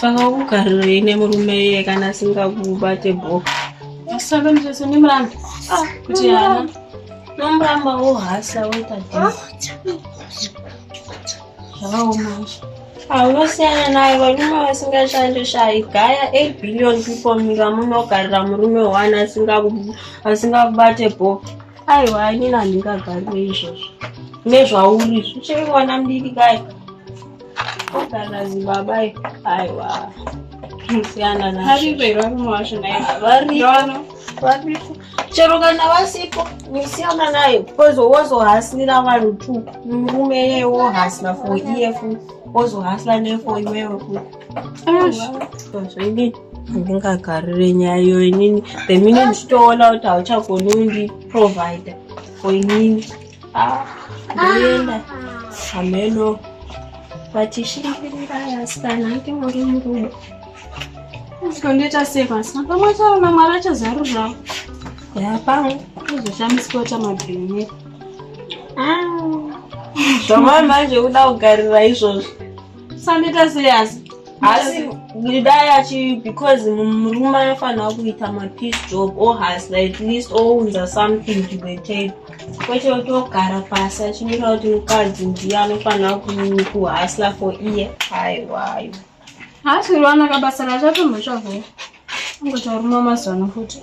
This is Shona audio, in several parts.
saka kugariro ine murume iye kana asingakubate bho ah, kuti ana nomuramba wohasa woita zvakaoma haunosiana naye varume vasingashande shayi gaya eight billion people munyika munogarira murume one asingakubate bho aiwa inini handingagarwe izvozvo nezvauri zvichiri mwana mdiki kai ogara zibaba aiwa siyana naripo iro varume vacho naivariko chero kana vasipo nisiyana nayo bcause wozohasira vanhu tu murume yeye wohasira for iye fu wozohasira nefo iwewe futi zvainge handingakarire nyaya iyo inini the minute ndichitoona kuti hauchagoni undiprovider for inini ah, ndoenda hameno vachishingirira yasikana ange muri murume zvikondoita sei pasina pamwe chaona mwari achazaruravo yapamwe uzoshamiswa chamabhini ah. zvamai manje kuda kugarira izvozvo saneta sei asi asi dai achi because murume anofanira kuita mapeace job or has at least ounza something to the table kwete otogara pasi achimira kuti mukadzi ndiye anofanira kuhasla for iye haiwayo haasi uriwanaka basa racho atombotsvagoo angotauruma mazano futi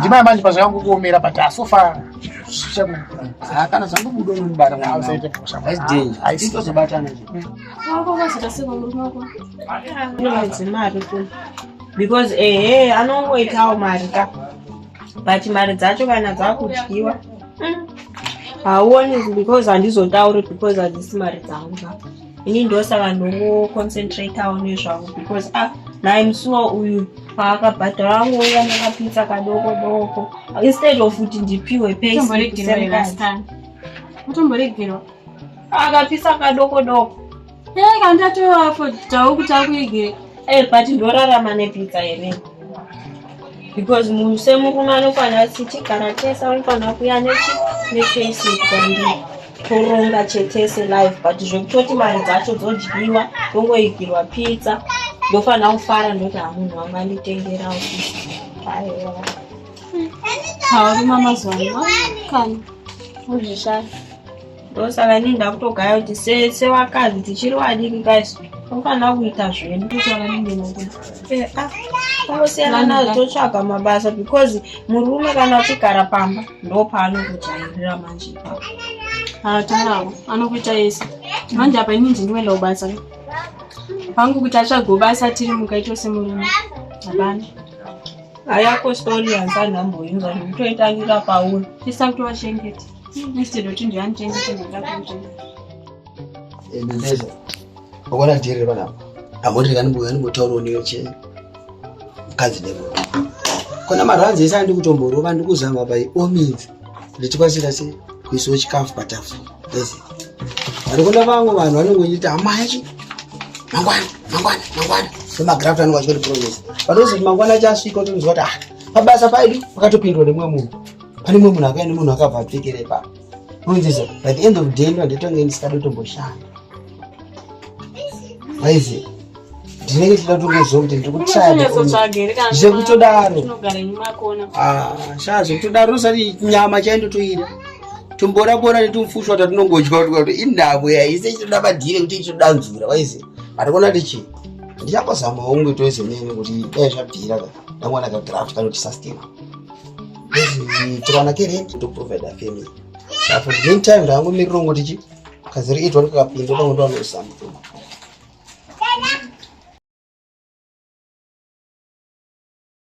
ndimaya manje pazvakangu kuomera but asofa ah, kana zvangobuda unobata mwanaaitozobatana mari tu because ehe anongoitawo mari ka but mari dzacho kana dzakudyiwa hmm. hauoni because handizotauri because hadzisi mari dzangu ka ini ndosaka ndongoconcentratawo nezvangu because a ah, naimusuwa uyu paakabhadhara angoiva nekapitsa kadoko doko instead of kuti ndipiwe payutomboregerwa akapisa kadoko doko ee kandatoafo tawo kuti akuigere ee but ndorarama nepitsa here because munhu semurume anokwana sitigara tese anokwana kuya nechi nefaceit kwandii toronga chetese life but zvekutoti mari dzacho dzodyiwa tongoigirwa pizza ndofanira kufara ndoti hamunhu wangu anditengerawo aiwa haurima mazuva ano kana uzvishaya ndosaka inini ndakutogaya kuti sese vakadzi tichiri vadiki kaisu tofanira kuita zvedu tongosiyana eh, ah, nazvo totsvaga mabasa because murume kana uchigara pamba ndopaanokujairira manje ipapo atarawo ah, anokuita yese manje apa ini ndindiwenda kubasa pangu kuti atsvagewo basa tiri muka itose murume hapana ayako stori yansani amboinzwa ndikutoitangira pauri tisakutowachengeta instead yokuti ndiyandichengete ndoda kuchengeta Ebeneza, wakona jere bana. Amori kani buya ni botauro ni che. Kazi debo. Kona maranzi esa ndi kutomboro vandu kuzama by all means. Ndichikwasira se kuiso chikafu patafu. That's it. Ari kona vangu vanhu vanongonyita amachi. Mangwana, mangwana, mangwana. Sema graft anu kwachiri progress. Panozi mangwana chasvika utonzwa ta. Ah, pabasa paidu pakatopindwa nemwe munhu. Pane mwe munhu akaenda munhu akabva apfekere pa. Kunzisa, by the end of the day ndo nditonge ndisikatomboshanda. Waize. Ndinenge tida kutongoziva kuti ndiri kutsvaga. Zvekutodaro. Ah, shaa zvekutodaro usati nyama chaindotoira. Tumbora bora netumufushwa tatinongodya kuti indabo yaise ichitoda madhire kuti ichitoda mvura waize. Ari kuona kuti chii? Ndichambozama hongu toize nene kuti dai zvabvira ka. Ndamwana ka draft kanoti sustainable. tikawana kerent ndokuprovida family apo meantime ndaangomirira ngoti chi kaziri itwa ndikakapinda ndango ndovanoisa mutumba